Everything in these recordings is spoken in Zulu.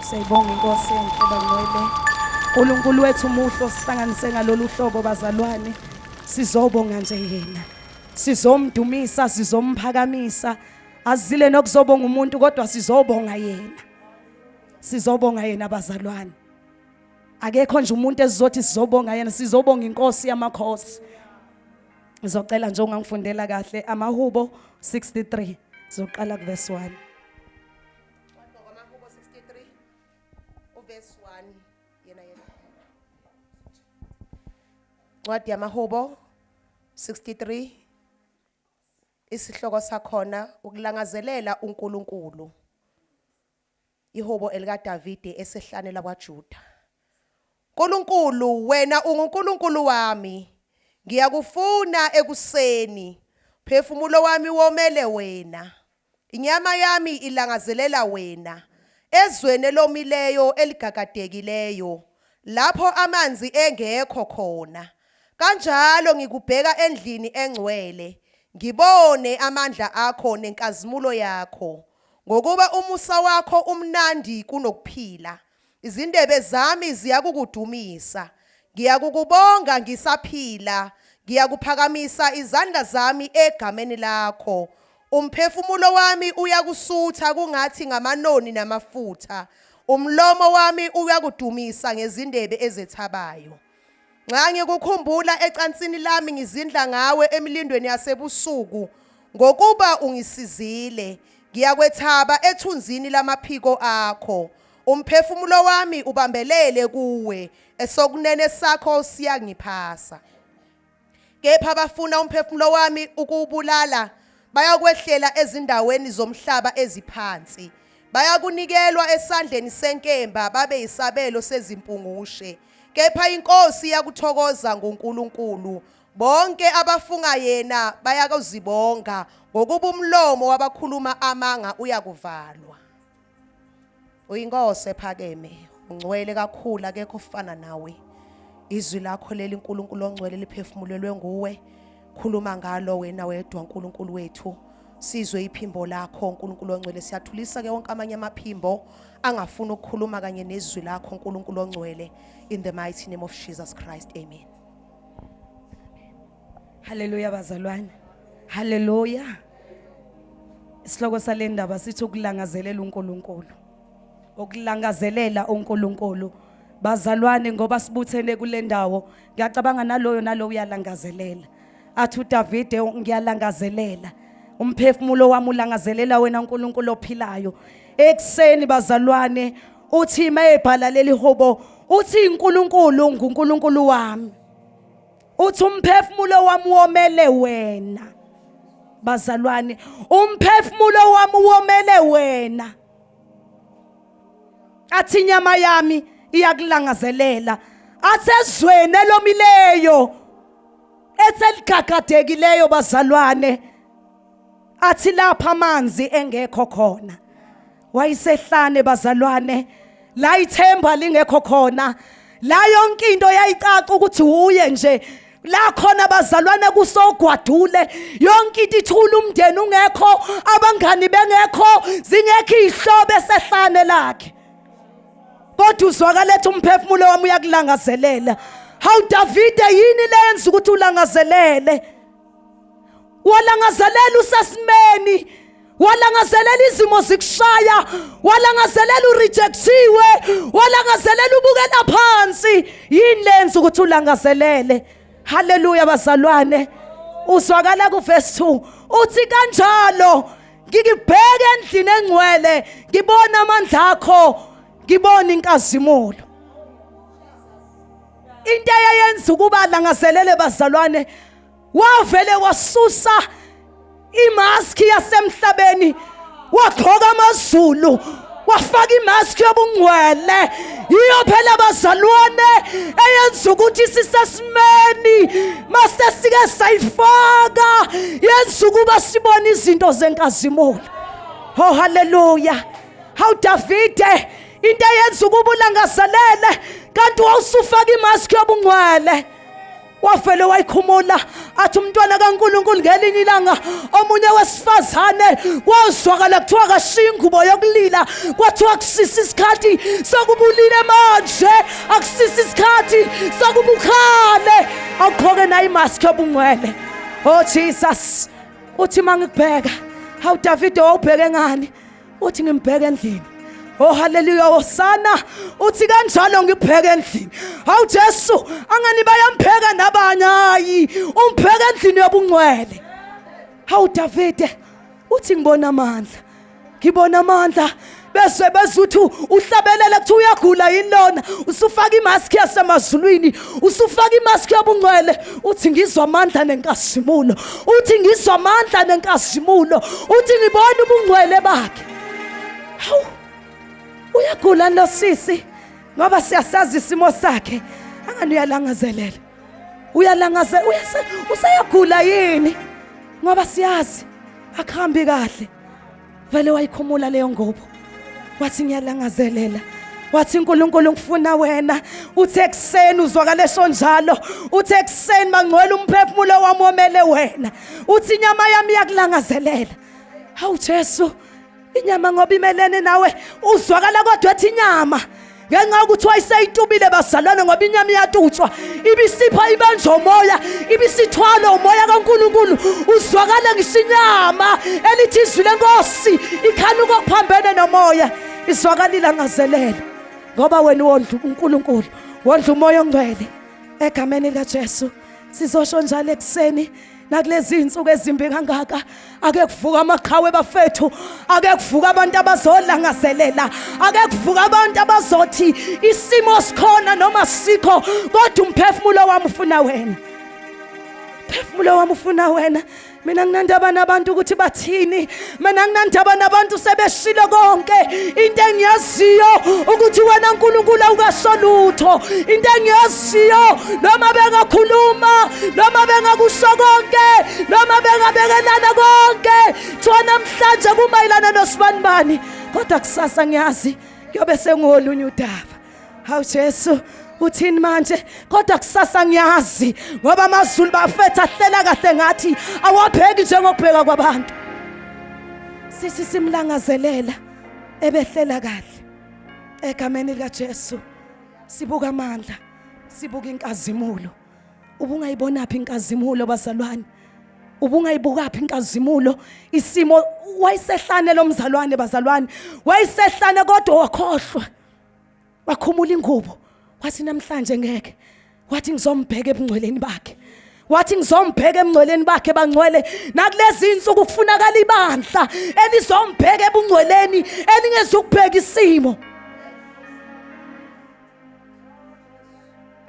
Siyayibonga inkosi enhle bangcwele. Nkulunkulu wethu muhle osihlanganise ngalolu hlobo bazalwane. Sizobonga nje yena. Sizomdumisa, sizomphakamisa. Azile nokuzobonga umuntu kodwa sizobonga yena. Sizobonga yena bazalwane. Akekho nje umuntu esizothi sizobonga yena, sizobonga inkosi yamakhosi. Ngizocela nje ungangifundela kahle amahubo 63 sizoqala kuverse 1. Wadwa kwamahubo 63 uverse 1 yena yena. Ncwadi yamahubo 63 isihloko sakhona ukulangazelela uNkulunkulu. Ihubo elikaDavide esehlane lakwaJuda. Nkulunkulu wena unguNkulunkulu wami ngiyakufuna ekuseni phefumulo wami womele wena Inyama yami ilangazelela wena, ezweni elomileyo eligagadekileyo, lapho amanzi engekho khona. Kanjalo ngikubheka endlini engcwele, ngibone amandla akho nenkazimulo yakho, ngokuba umusa wakho umnandi kunokuphila. Izindebe zami ziyakukudumisa. Ngiyakukubonga ngisaphila. Ngiyakuphakamisa izandla zami egameni lakho. Umphefumulo wami uyakusutha kungathi ngamanoni namafutha. Umlomo wami uyakudumisa ngezindebe ezethabayo. Nxa ngikukhumbula ecansini lami ngizindla ngawe emilindweni yasebusuku ngokuba ungisizile ngiyakwethaba ethunzini lamaphiko akho umphefumulo wami ubambelele kuwe esokunene sakho siyangiphasa kepha abafuna umphefumulo wami ukuwubulala bayakwehlela ezindaweni zomhlaba eziphansi bayakunikelwa esandleni senkemba babe isabelo sezimpungushe kepha inkosi yakuthokoza ngoNkulunkulu bonke abafunga yena bayakuzibonga ngokuba umlomo wabakhuluma amanga uyakuvalwa Uyinkosi ephakeme, ungcwele kakhulu akekho ofana nawe. Izwi lakho leli uNkulunkulu ongcwele liphefumulelwe nguwe. Khuluma ngalo wena wedwa uNkulunkulu wethu. Sizwe iphimbo lakho uNkulunkulu ongcwele siyathulisa ke wonke amanye amaphimbo angafuni ukukhuluma kanye nezwi lakho uNkulunkulu ongcwele in the mighty name of Jesus Christ. Amen. Haleluya bazalwane. Haleluya. Isihloko salendaba sithi ukulangazelela uNkulunkulu. Ukulangazelela uNkulunkulu. Bazalwane ngoba sibuthene kulendawo ngiyacabanga naloyo naloyo uyalangazelela. Athi uDavide ngiyalangazelela. Umphefumulo wami ulangazelela wena uNkulunkulu ophilayo. Ekseni bazalwane uthi mayebhala leli hobo uthi uNkulunkulu nguNkulunkulu wami. uthi umphefumulo wami womele wena bazalwane umphefumulo wami womele wena athi inyama yami iyakulangazelela asezweni elomileyo eseligagadekileyo bazalwane athi lapha amanzi engekho khona wayisehlane bazalwane la ithemba lingekho khona la yonke into yayicaca ukuthi uye nje la khona bazalwane kusogwadule yonke into ithula umndeni ungekho abangani bengekho zingekho izihlobo esehlane lakhe kodwa uzwakaletha umphefumulo wami uyakulangazelela hawu davide yini lenza ukuthi ulangazelele walangazelela usesimeni walangazelela izimo zikushaya walangazelela urejectiwe walangazelela ubukela phansi yini lenza ukuthi ulangazelele haleluya bazalwane uzwakala kuverse 2 uthi kanjalo ngikibheke endlini engcwele ngibona amandla akho ngibona inkazimulo into eyayenza ukuba langazelele bazalwane wavele wasusa imaski yasemhlabeni wagqoka amazulu wafaka imaski yobungcwele yiyo phela bazalwane eyenza ukuthi sisesimeni mase sike sayifaka yenza ukuba sibone izinto zenkazimula oh haleluya hawu davide into eyenza ukuba ulangazelele kanti wawusufaka imaski yobungcwele wavele wayikhumula athi umntwana kaNkuluNkulu ngelinye ilanga omunye wesifazane kwazwakala kuthiwa kashiya ingubo yokulila kwathiwa kusisa isikhathi sokubulile manje akusisa isikhathi sokubukhale awugqoke nayo imaski yobungcwele oh jesus uthi uma ngikubheka hawu davide wawubheke ngani uthi ngimbheke endlini Oh haleluya hosana uthi kanjalo ngibheke endlini hawu Jesu angani bayampheka nabanye hayi umpheka endlini yobungcwele hawu Davide uthi ngibona amandla ngibona amandla bese bezuthi uhlabelele kuthi uyagula yini lona usufaka imask yasemazulwini usufaka imaski yobungcwele uthi ngizwa amandla nenkazimulo uthi ngizwa amandla nenkazimulo uthi ngibona ubungcwele bakhe hawu uyagula nosisi ngoba siyasazi isimo sakhe angani uyalangazelela uyalangaze useyagula yini ngoba siyazi akuhambi kahle vele wayikhumula leyo ngobo wathi ngiyalangazelela wathi uNkulunkulu ngifuna wena uthe ekseni uzwakale sonjalo uthe ekseni mangcwele umphefumulo wami womele wena uthi inyama yami iyakulangazelela hawu Jesu inyama ngoba imelene nawe uzwakala kodwa ethi inyama ngenxa yokuthi wayeseyitubile bazalwane ngoba inyama iyatutswa ibisipha ibanjwa umoya ibisithwala umoya kankulunkulu uzwakala ngisinyama elithi izwi lenkosi ikhanuka okuphambene nomoya izwakalile angazelele ngoba wena wondla unkulunkulu wondla umoya ongcwele egameni likajesu sizosho njalo ekuseni nakulezi insuku ezimbi kangaka ake kuvuka amaqhawe bafethu ake kuvuka abantu abazolangazelela ake kuvuka abantu abazothi isimo sikhona noma sikho kodwa umphefumulo wami ufuna wena phefumulo wami ufuna wena mina nginandaba nabantu ukuthi bathini mina nginandaba nabantu sebeshilo konke into engiyaziyo ukuthi wena nkulunkulu awukasolutho into engiyaziyo noma bengakhuluma noma bengakusho konke noma bengabekelana konke kuthiwa namhlanje kumayelana nosibanibani kodwa kusasa ngiyazi kuyobe sengolunye udaba hawu jesu uthini manje kodwa kusasa ngiyazi ngoba amazulu bafethu ahlela kahle ngathi awabheki njengokubheka kwabantu sisi simlangazelela ebehlela kahle egameni likajesu sibuka amandla sibuka inkazimulo ubungayibonaphi inkazimulo bazalwane ubungayibukaphi inkazimulo isimo wayesehlane lomzalwane bazalwane wayesehlane kodwa wakhohlwa wakhumula ingubo wathi namhlanje ngeke wathi ngizombheka ebungcweleni bakhe wathi ngizombheka emngcweleni bakhe bangcwele nakulezi insuku kufunakala ibandla elizombheka ebungcweleni elingezukubheka isimo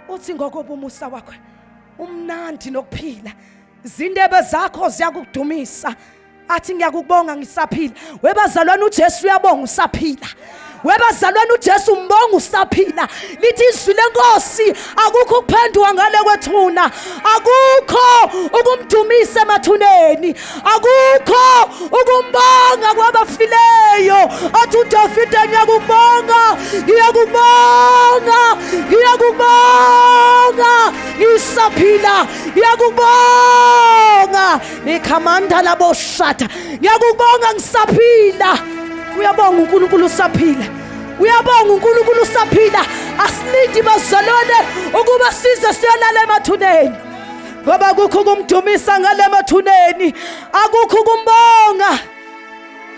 uthi ngokobumusa wakho umnandi nokuphila izindebe zakho ziyakudumisa athi ngiyakubonga ngisaphila webazalwane uJesu uyabonga usaphila webazalwane uJesu umbonga usaphila lithi izwi lenkosi akukho ukuphenduka ngale kwethuna akukho ukumdumisa emathuneni akukho ukumbonga kwabafileyo athi udavide ngiyakubonga ngiyakubonga ngiyakubonga ngisaphila ngiyakubonga nikhamanda laboshata ngiyakubonga ngisaphila uyabonga unkulunkulu usaphila uyabonga unkulunkulu usaphila asilindi bazalwane ukuba size siyolala emathuneni ngoba akukho ukumdumisa ngale mathuneni akukho ukumbonga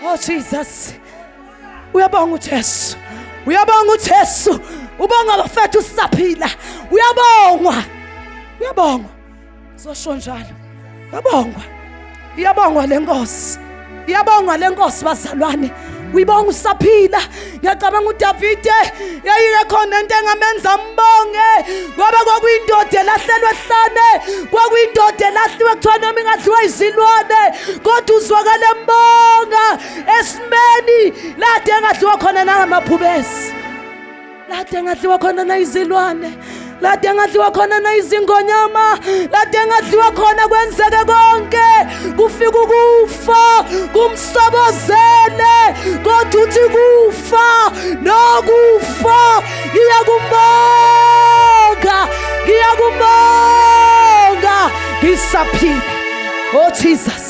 oh jesus uyabonga ujesu uyabonga ujesu ubonga bafethu sisaphila uyabongwa uyabongwa zosho njalo uyabongwa iyabongwa le nkosi iyabongwa le nkosi bazalwane uyibonga usaphila ngiyacabanga udavide yayike khona into engamenza mbonge ngoba kwakuyindoda elahlelwe ehlane kwakuyindoda elahliwe kuthiwa noma ingadliwa izilwane kodwa uzwakale mbonga esimeni lade engadliwa khona nangamaphubesi lade engadliwa khona nayizilwane lade engadliwa khona nayizingonyama lade engadliwa khona kwenzeke konke kufika ukufa kumsobozele kodwa uthi kufa nokufa iyakumbonga ngiyakumbonga ngisaphila oh jesus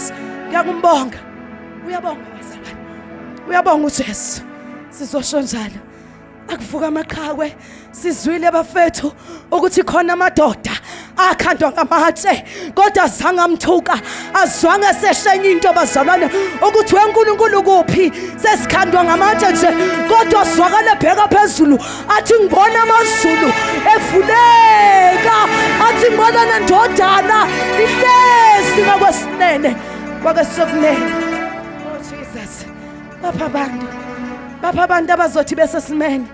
ngiyakumbonga uyabonga bazalwane uyabonga ujesu sizosho njalo akuvuka amaqhakwe sizwile bafethu ukuthi khona amadoda akhandwa ngamatshe kodwa azange amthuka azwange seshenye into bazalwane ukuthi wenkulunkulu kuphi sesikhandwa ngamatshe nje kodwa zwakale bheka phezulu athi ngibona amazulu evuleka athi ngibona nendodana ihlezi ngakwesinene kwakesokunene bapha abantu bapha abantu abazothi besesimene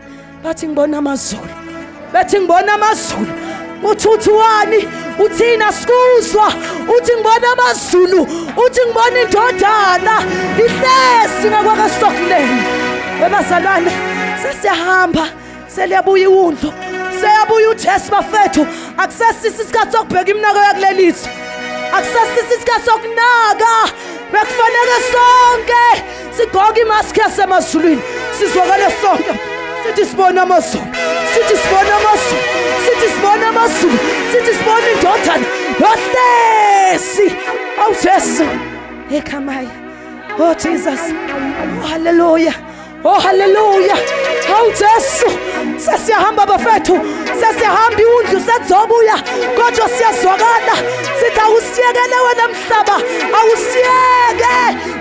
bathi ngibona amazulu bethi ngibona amazulu uthi uthiwani uthina sikuzwa uthi ngibona amazulu uthi ngibona indodana ihlezi ngakwakasokuleni webazalwane sesiyahamba seliyabuya iwundlu seyabuya ujesu bafethu akusesisi isikhathi sokubheka iminako yakulelizwe akusesisi isikhathi sokunaka bekufanele sonke sigqoke imaski yasemazulwini sizwakale sonke sithi sibona amazulu sithi sibona amazulu sithi sibona amazulu sithi sibona indodana yohlesi awujesu ekhamayo oh jesus oh, haleluya Oh haleluya. Hawu Jesu. Sesiyahamba bafethu. Sesiyahamba iwundlu sethobuya. Kodwa siyazwakala. Sithi awusiyekele wena mhlaba. Awusiyeke.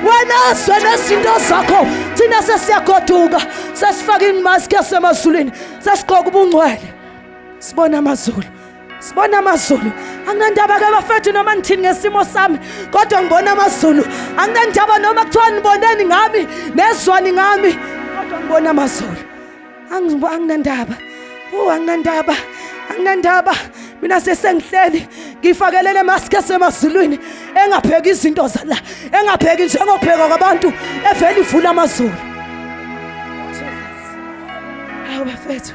Wena zwe nezinto zakho. Thina sesiyagoduka. Sesifaka inmask yasemazulwini. Sesigqoka ubungcwele. Sibona amazulu. sibona amazulu anginandaba ke bafethu noma ngithini ngesimo sami kodwa ngibona amazulu anginandaba noma kuthiwa niboneni ngami nezwani ngami kodwa ngibona amazulu anginandaba u anginandaba anginandaba mina sesengihleli ngifakelele mask esemazulwini engapheki izinto zala engapheki njengopheka kwabantu evele ivula amazulu hawu bafethu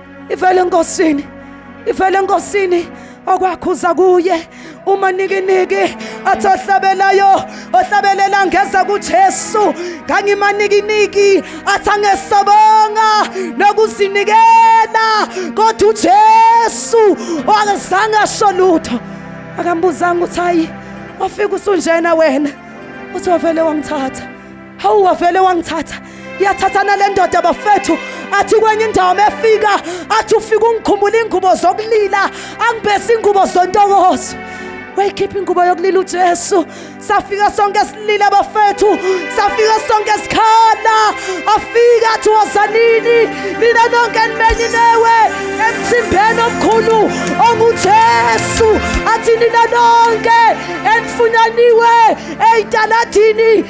ivele enkosini ivele enkosini okwakhuza kuye uma nikiniki athi ohlabelayo ohlabelela ngeza kuJesu ngangimanikiniki athi angesabonga nokuzinikela kodwa uJesu akazange asho lutho akambuzanga ukuthi hayi wafika usunjena wena uthi wavele wangithatha hawu wavele wangithatha yathathana le ndoda bafethu athi kwenye indawo mefika athi ufika ungikhumbula ingubo zokulila angibese ingubo zontokozo wayikhipha ingubo yokulila uJesu safika sonke silile bafethu safika sonke sikhala afika athi wozanini nina nonke nimenye newe emthimbeni omkhulu onguJesu athi nina nonke enifunyaniwe eyitaladini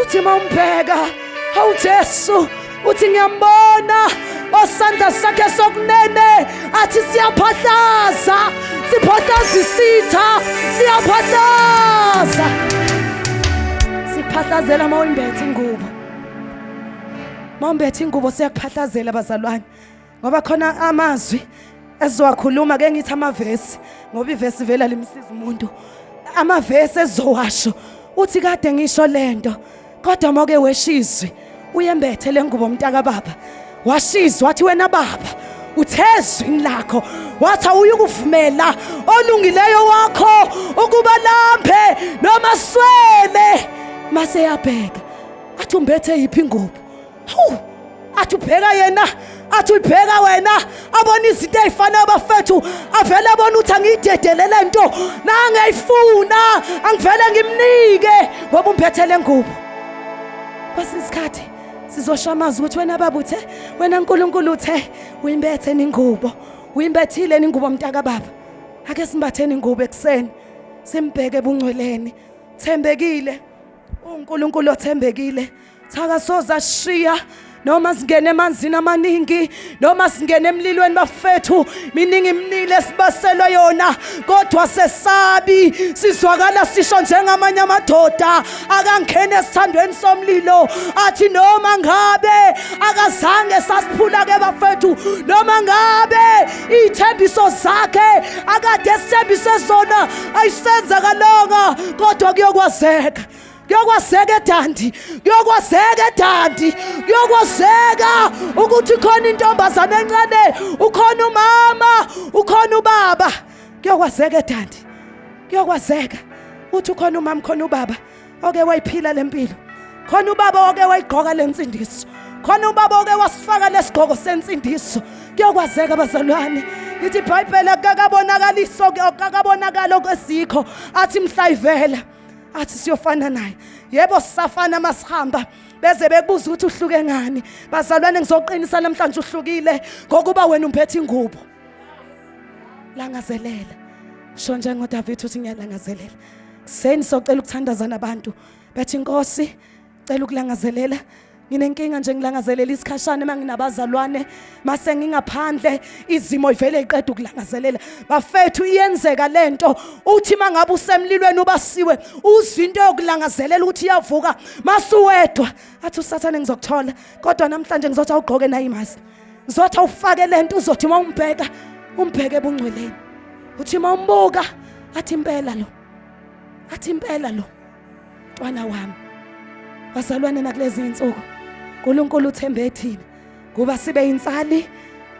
uthi uma umbheka hawu jesu uthi ngiyambona osandla sakhe sokunene athi siyaphahlaza siphahlaza isitha siyaphahlaza siphahlazela uma uyimbethe ingubo uma umbethe ingubo siyakuphahlazela bazalwane ngoba khona amazwi ezizowakhuluma ke ngithi amavesi ngoba ivesi vela limsiza umuntu amavesi ezowasho uthi kade ngisho lento kodwa moke weshizwe uyembethe lengubo umntaka baba washizwa wathi wena baba uthezwini lakho wathi awuyukuvumela olungileyo wakho ukuba lambe noma swele mase yabheka athi umbethe yiphi ingubo athi ubheka yena athi ulibheka wena abona izinto ey'fanayo bafethu avele abona ukuthi angiyidedele le nto nangiyayifuna angivele ngimnike ngoba umphathele ngubo kwesinye isikhathi sizosho amazwi ukuthi wena baba uthe wena nkulunkulu uthe uyimbethe ningubo uyimbethile ningubo mntaka baba ake simbatheni ingubo ekuseni simbheke ebungcweleni thembekile uNkulunkulu othembekile Thaka soza shiya noma singene emanzini amaningi noma singene emlilweni bafethu miningi imnile esibaselwa yona kodwa sesabi sizwakala sisho njengamanye amadoda akangene esithandweni somlilo athi noma ngabe akazange sasiphula ke bafethu noma ngabe iy'thembiso zakhe akade esithembise zona ayisenzakalanga kodwa kuyokwazeka kuyokwazeka edandi kuyokwazeka edandi kuyokwazeka ukuthi khona intombazane encane ukhona umama ukhona ubaba kuyokwazeka edandi kuyokwazeka uthi ukhona umama khona ubaba oke wayiphila lempilo khona ubaba oke wayigqoka lensindiso khona ubaba oke wasifaka lesigqoko sensindiso kuyokwazeka bazalwane lithi ibhayibheli akakabonakaliso akakabonakali okwesikho athi mhla ivela athi siyofana naye yebo sisafana masihamba beze bekubuza ukuthi uhluke ngani bazalwane ngizoqinisa namhlanje uhlukile ngokuba wena umphethe ingubo langazelela sho njengoDavid uthi ngiyalangazelela seni socela ukuthandazana abantu bethi inkosi cela ukulangazelela nginenkinga nje ngilangazelela isikhashana uma nginabazalwane mase ngingaphandle izimo ivele iqeda ukulangazelela bafethu iyenzeka lento uthi mangabe usemlilweni ubasiwe uzwa into yokulangazelela ukuthi iyavuka masuwedwa athi usathane ngizokuthola kodwa namhlanje ngizothi awugqoke nayi mazi ngizothi awufake lento uzothi uma umbheka umbheke ebungcweleni uthi uma umbuka athi impela lo athi impela lo Mntwana wami, bazalwane nakulezi insuku uNkulunkulu uthembe ethina ngoba sibe insali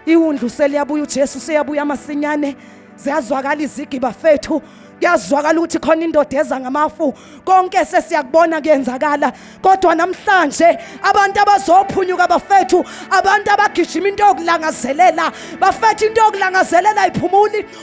iwundlu seliyabuya uJesu seyabuya masinyane ziyazwakala izigi bafethu kuyazwakala ukuthi khona indoda eza ngamafu konke sesiyakubona kuyenzakala kodwa namhlanje abantu abazophunyuka bafethu abantu abagijima into yokulangazelela bafethu into yokulangazelela iphumuli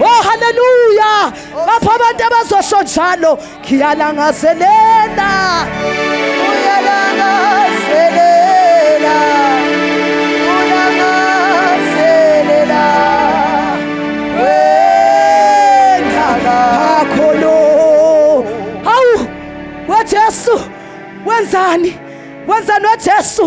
Oh haleluya. Lapho abantu abazosho njalo ngiyalangazelela. Uyalangazelela. Uyalangazelela. Wena kakho lo. Hawu, weJesu wenzani? Wenzani weJesu?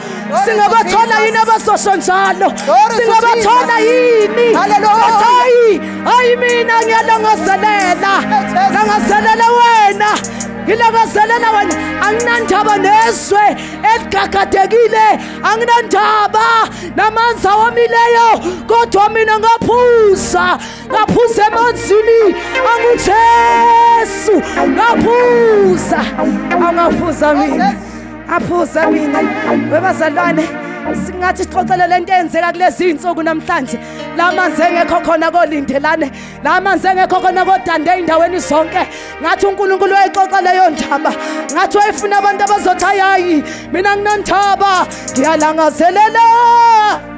singabathola yini abazosho njalo singabathola yini hayi hayi mina ngiyalangazelela langazelela wena ngilangazelela wena anginandaba nezwe eligagadekile anginandaba namanzi awomileyo kodwa mina ngaphuza ngaphuza emanzini angujesu ngaphuza angaphuza mina aphuza mina webazalwane singathi sixoxele lento eyenzeka kulezi iy'nsuku namhlanje la manzi engekho khona kolindelane la manzi engekho khona kodande ey'ndaweni zonke ngathi unkulunkulu wayixoxa leyo ndaba ngathi wayefuna abantu abazothi hayi hayi mina nginandaba ngiyalangazelela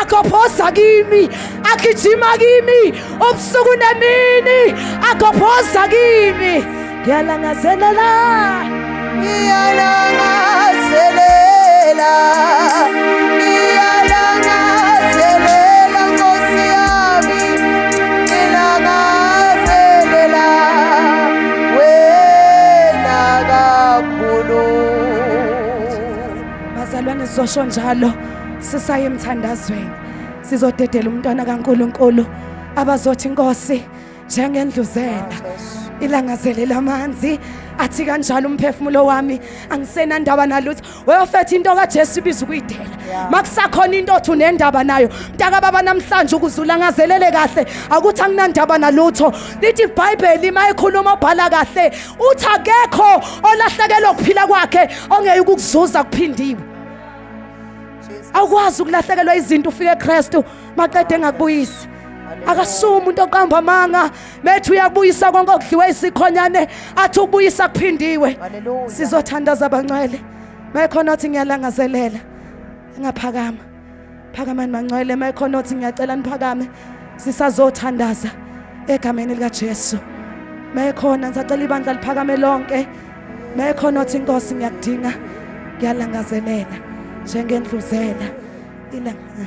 agobhoza kimi agijima kimi ubusuku nemini agobhoza kimi ngiyalangazelela ngiyalangazelela bazalwane sizosho njalo sisaye emthandazweni sizodedela umntwana kaNkuluNkulu abazothi inkosi njengendluzela ilangazelela amanzi athi kanjalo umphefumulo wami angisena ndaba nalutho weyofetha into kaJesu ibiza ukuyidela makusakhona into othi unendaba nayo mntaka baba namhlanje ukuzula ngazelele kahle akuthi anginandaba nalutho lithi iBhayibheli mayikhuluma obhala kahle uthi akekho olahlekelwa ukuphila kwakhe ongeyikukuzuza kuphindiwe awukwazi ukulahlekelwa izinto ufike eKristu maqede engakubuyisi akasuwe umuntu oqamba amanga bethi uyabuyisa konke okudliwe isikhonyane athi ubuyisa kuphindiwe sizothandaza abangcwele mayekhona othi ngiyalangazelela engaphakama phakamani mangcwele mayekhona othi ngiyacela niphakame sisazothandaza egameni likaJesu mayekhona ngisacela ibandla liphakame lonke mekhona othi inkosi ngiyakudinga ngiyalangazelela njengendluzela ilanga